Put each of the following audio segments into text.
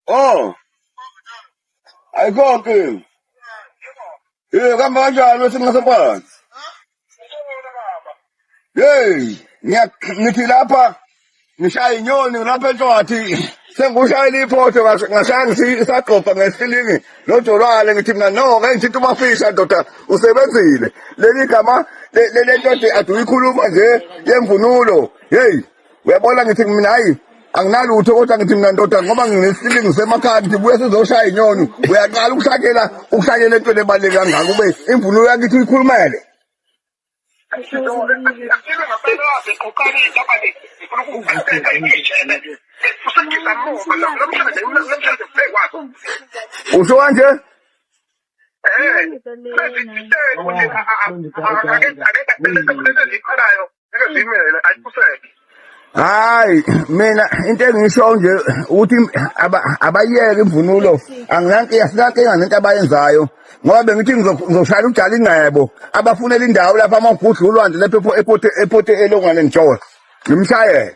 Oh. Ayikho nkinga. Eh kamba kanjani wethu ngasephakathi? Hey, ngiya ngithi lapha ngishaya inyoni lapha entshwathi. Sengikushayela iphotho ngashaya ngithi isagqobha ngesilingi nojolwane ngithi mina no ngeke ngithinta umafisha ndoda usebenzile. Leli gama le- le- le ndoda aduyikhuluma nje yemvunulo. Hey. uyabona ngithi mina hayi anginalutho kodwa ngithi mina ndoda ngoba nginesilingi semakhaya ngithi buye sizoshaya inyoni uyaqala ukushakela ukushakela into ebaluleke kangaka ube imvunulo yakithi uyikhulumele usho kanje hayi mina into engisho nje ukuthi abayeke imvunulo anginankinga sinankinga nento abayenzayo ngoba bengithi ngizoshayela ujala ingcebo abafunela indawo lapho amagudla ulwandle lapho epote elongwane ngishowe ngimshayele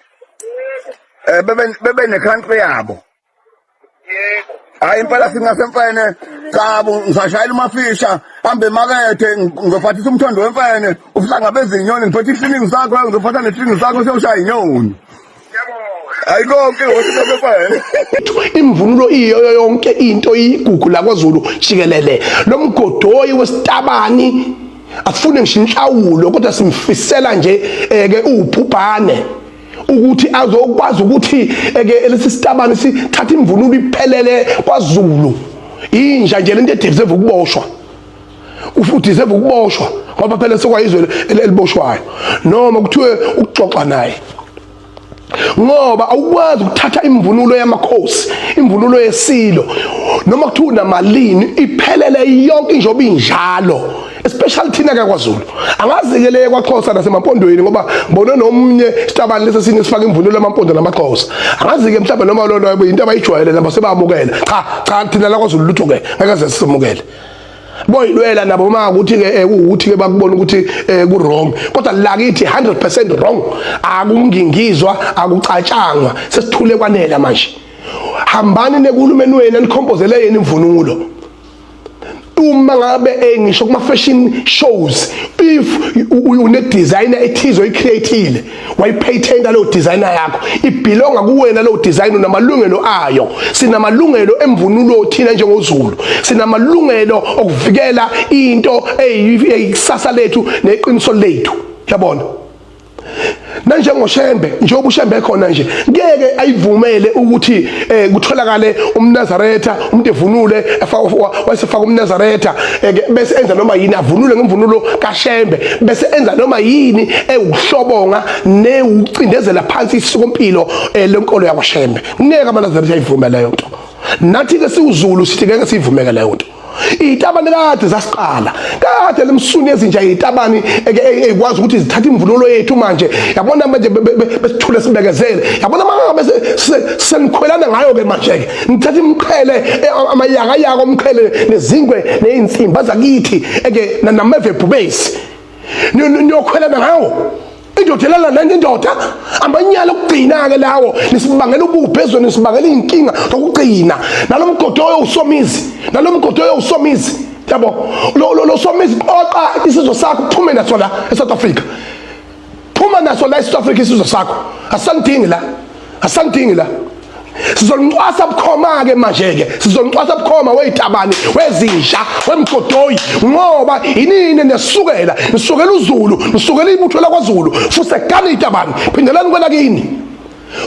um bebe ne-country yabo hayi impela singasemfene cabo ngisashayela umafisha hambe emakethe ngizophathisa umthondo wemfene ubuhlanga bezinyoni ngiphethe isiningi sakho ngizophatha nesiningi sakho sewushaya inyoni hayi konke wesifene imvunulo iyo yonke into iyigugu lakwazulu jikelele lo mgodoyi wesitabani afune ngisho inhlawulo kodwa simfisela nje eh, ke uwubhubhane ukuthi azokwazi ukuthi eke lesi sitabane sithatha imvunulo iphelele kwaZulu inja nje lento edivise ukuboshwa ufuthi seve ukuboshwa ngoba phela sekwayizwe eliboshwayo noma kuthiwe ukuxoxa naye ngoba awukwazi ukuthatha imvunulo yamakhosi imvunulo yesilo noma kuthiwa unamalini iphelele yonke injoba injalo especially thina ke kwaZulu angazikeleke kwaXhosa nasemampondweni ngoba ngibone nomnye sitabani lesi sinye sifaka imvunulo yamampondo namaXhosa angazike mhlawumbe noma lona yabo into abayijwayele nabo sebamukela cha cha thina la kwaZulu lutho ke akaze sisemukele boyilwela nabo uma ukuthi ke eh, ukuthi ke bakubona ukuthi eh, ku wrong kodwa la kithi 100% wrong akungingizwa akucatshangwa sesithule kwanela manje hambani nekulumeni wena nikhompozele yena imvunulo uma ngabe eh, ngisho kuma fashion shows if une designer ethizo icreative wayipatenta lo designer yakho ibelonga kuwena lo design unamalungelo ayo sinamalungelo emvunulo thina njengozulu sinamalungelo okuvikela into eyikusasa lethu neqiniso lethu yabona nanjengoshembe njengoba ushembe khona nje ngeke ayivumele ukuthi eh kutholakale umnazaretha umuntu evunule wayesefaka umnazaretha eh, bese enza noma yini avunule ngemvunulo kashembe bese enza noma yini ewuhlobonga newucindezela phansi isikompilo eh, lenkolo yakwashembe ngeke amanazaretha ayivume leyo nto nathi ke siwuzulu sithi ngeke siyivumeke leyo nto izitabane kade zasiqala kade lemsuni ezinja izitabane ekwazi ukuthi zithathe imvunulo yethu manje yabona manje besithule sibekezele yabona mangabe senikhwelana ngayo ke manje ke nithatha imqhele e, amayaka yaka omqhele nezingwe nezinsimba zakithi eke nameve bhubesi niyokhwelana ngawo indoda elala nenye indoda amanyala okugcina-ke lawo nisibangela ubuphi ezweni nisibangela iy'nkinga zokugcina nalo mgodi oyo usomizi nalo mgodi oyo usomizi yabo lo somizi qoqa isizwe sakho uphume naso la esouth africa phuma naso la esouth africa isizwe sakho asisandingi la asangidingi la sizolincwasa bukhoma ke manje ke sizolincwasa bukhoma wezitabane wezinja wemgodoyi ngoba inini nesukela nisukela uzulu nisukela ibutho lakwaZulu fuse gani itabane phindelani kwela kini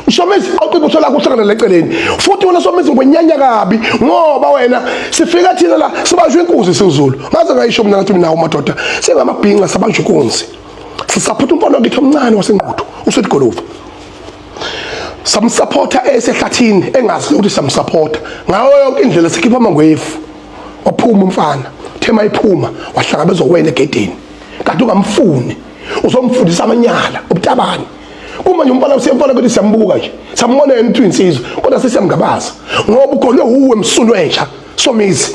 ushomezi oqi ibutho lakho uhlangana leceleni futhi wena somezi ngwenyanya kabi ngoba wena sifika thina la sibanjwe inkuzi siwuzulu ngaze ngayisho mina ngathi mina umadoda singamabhinqa sabanjwe inkunzi sisaphutha umfana wakithi omncane wasengquthu usedigolovu samsupporta esehlathini engazi ukuthi samsupporta ngawo yonke indlela sikhipha amangwefu waphuma umfana thema iphuma wahlangabezwa wena egedeni kanti ungamfuni uzomfundisa amanyala ubutabani kumanje umfana usiyemfana ukuthi siyambuka nje sambona yena ukuthi insizwa kodwa sesiyamgabaza ngoba ugonwe uwe msunu entsha somizi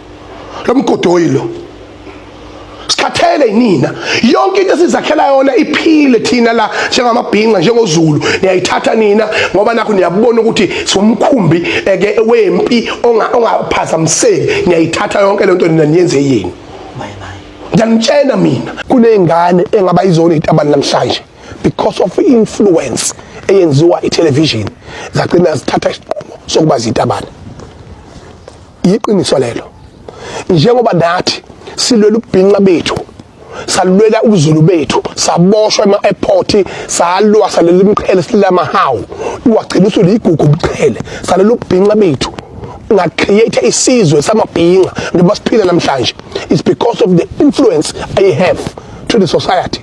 lo mgodoyi lo sikhathele yinina yonke into esizakhela yona iphile thina la njengamabhinqa njengozulu niyayithatha nina ngoba nakho niyabona ukuthi siwumkhumbi eke wempi ongaphazamiseki niyayithatha yonke lento nina niyenze yini ngiyanitshena mina kuney'ngane engaba izona iy'tabani namhlanje because of i-influence eyenziwa ithelevishini zagcina zithatha isinqumo sokuba ziyitabane yiqiniso lelo njengoba nathi silwela ubhinqa bethu salulwela ubuzulu bethu saboshwa ema-airport salwa salela imiqhele silela amahawu iwagcina usulu yigugu ubuqhele salela ubhinqa bethu ngacreate isizwe samabhinqa njengoba siphila namhlanje is because of the influence i have to the society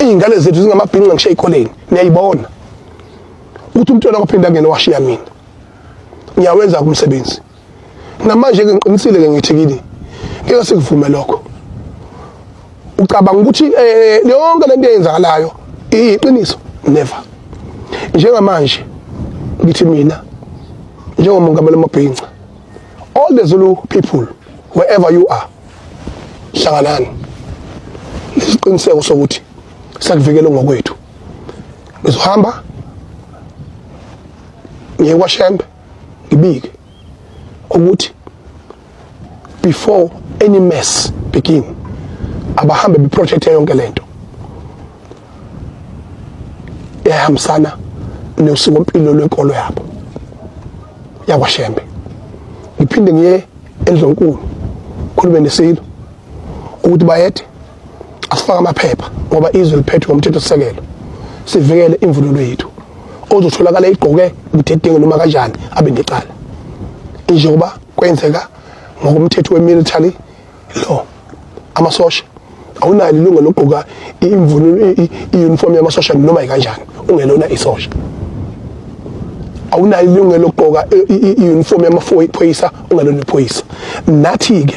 iy'ngane zethu zingamabhinqa ngisho ey'koleni niyayibona ukuthi umntwana kwaphinde angene washiya mina ngiyawenza umsebenzi namanje ke ngiqinisile ke ngithi kini ngeke sikuvume lokho ucabanga ukuthi eh, yonke lento eyenzakalayo iyiqiniso never njengamanje ngithi mina njengomongameli mabhinca all the zulu people wherever you are hlanganani lesiqiniseko sokuthi sakuvikela ngokwethu ngizohamba ngiye kwashembe ngibike ukuthi before any mess begin abahambe beprojecte yonke lento ehambisana nosiko mpilo lwenkolo yabo yakwashembe ngiphinde ngiye endlonkulu khulube nesilo ukuthi bayethe asifake amaphepha ngoba izwe liphethwe ngomthetho sisekelo sivikele imvunulo yethu ozotholakala igqoke ubudedengu noma kanjani abe necala njengoba kwenzeka ngokomthetho we-military law amasosha awunayo ilunga lokugqoka imvunulo i-uniform yamasosha noma yikanjani ungelona isosha awunayo ilungelo lokugqoka i-uniform yamaphoyisa ungalona iphoyisa nathi-ke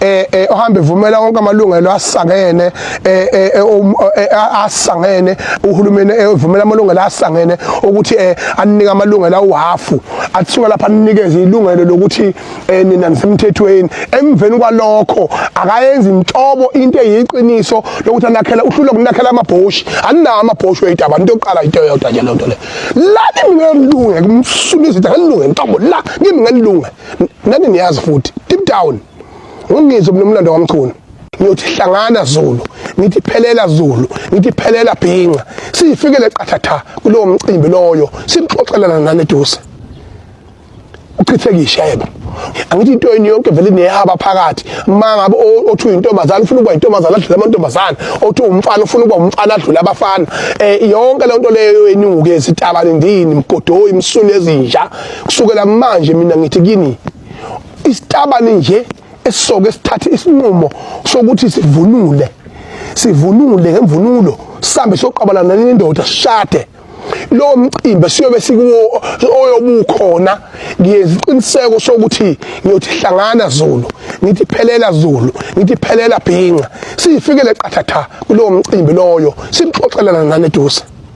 eh, eh ohambe vumela wonke amalungelo asangene eh, eh, eh um, asangene uhulumeni evumela amalungelo asangene ukuthi anike amalungelo awuhafu athiwa lapha anikeze ilungelo lokuthi nina nisemthethweni emveni kwalokho akayenzi inhlobo into eyiqiniso lokuthi anakhela uhlulwa kunakhela amabhoshi aninawo amabhoshi weyidaba into yokuqala into yodwa nje lento le la kimi ngelunge kumsula izitha ngelunge ntobo la kimi ngelunge nani niyazi futhi deep down ungizwe mina umlando kamchunu ngiyothi hlangana zulu ngithi phelela zulu ngithi phelela bhinqa siyifikele qathatha kulowo mcimbi loyo sikuxoxelana nani eduze uchithekisha yebo angithi into yini yonke vele neyaba phakathi uma ngabe othi uyintombazana ufuna ukuba intombazana adlule amantombazana othi umfana ufuna ukuba umfana adlule abafana eh yonke le nto leyo eninguke izitaba ndini mgodoyi imsulu ezinja kusukela manje mina ngithi kini isitabani nje esisoke sithathe isinqumo sokuthi sivunule sivunule ngemvunulo sambe soqabalana nendoda sishade lo mcimbi siyobe sikuwo oyobukhona ngiyeziqiniseko sokuthi ngiyothi hlangana Zulu ngithi phelela Zulu ngithi phelela bhinqa siyifikele qathatha kulo mcimbi loyo sixoxelana nane duze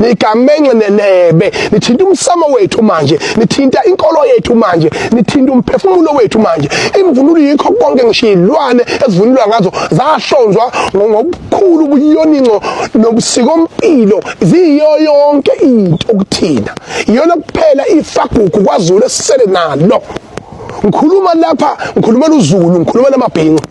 nigamenxe nenebe nithinta umsamo wethu manje nithinta inkolo yethu manje nithinta umphefumulo wethu manje imvunulo yikho konke ngisho izilwane ezivunulwa ngazo zahlonzwa ngokukhulu ubuyoninco nobusikompilo ziyiyo yonke into okuthina iyona kuphela ifagugu kwazulu esisele nalo ngikhuluma lapha ngikhulumela uzulu ngikhulumela amabhinqa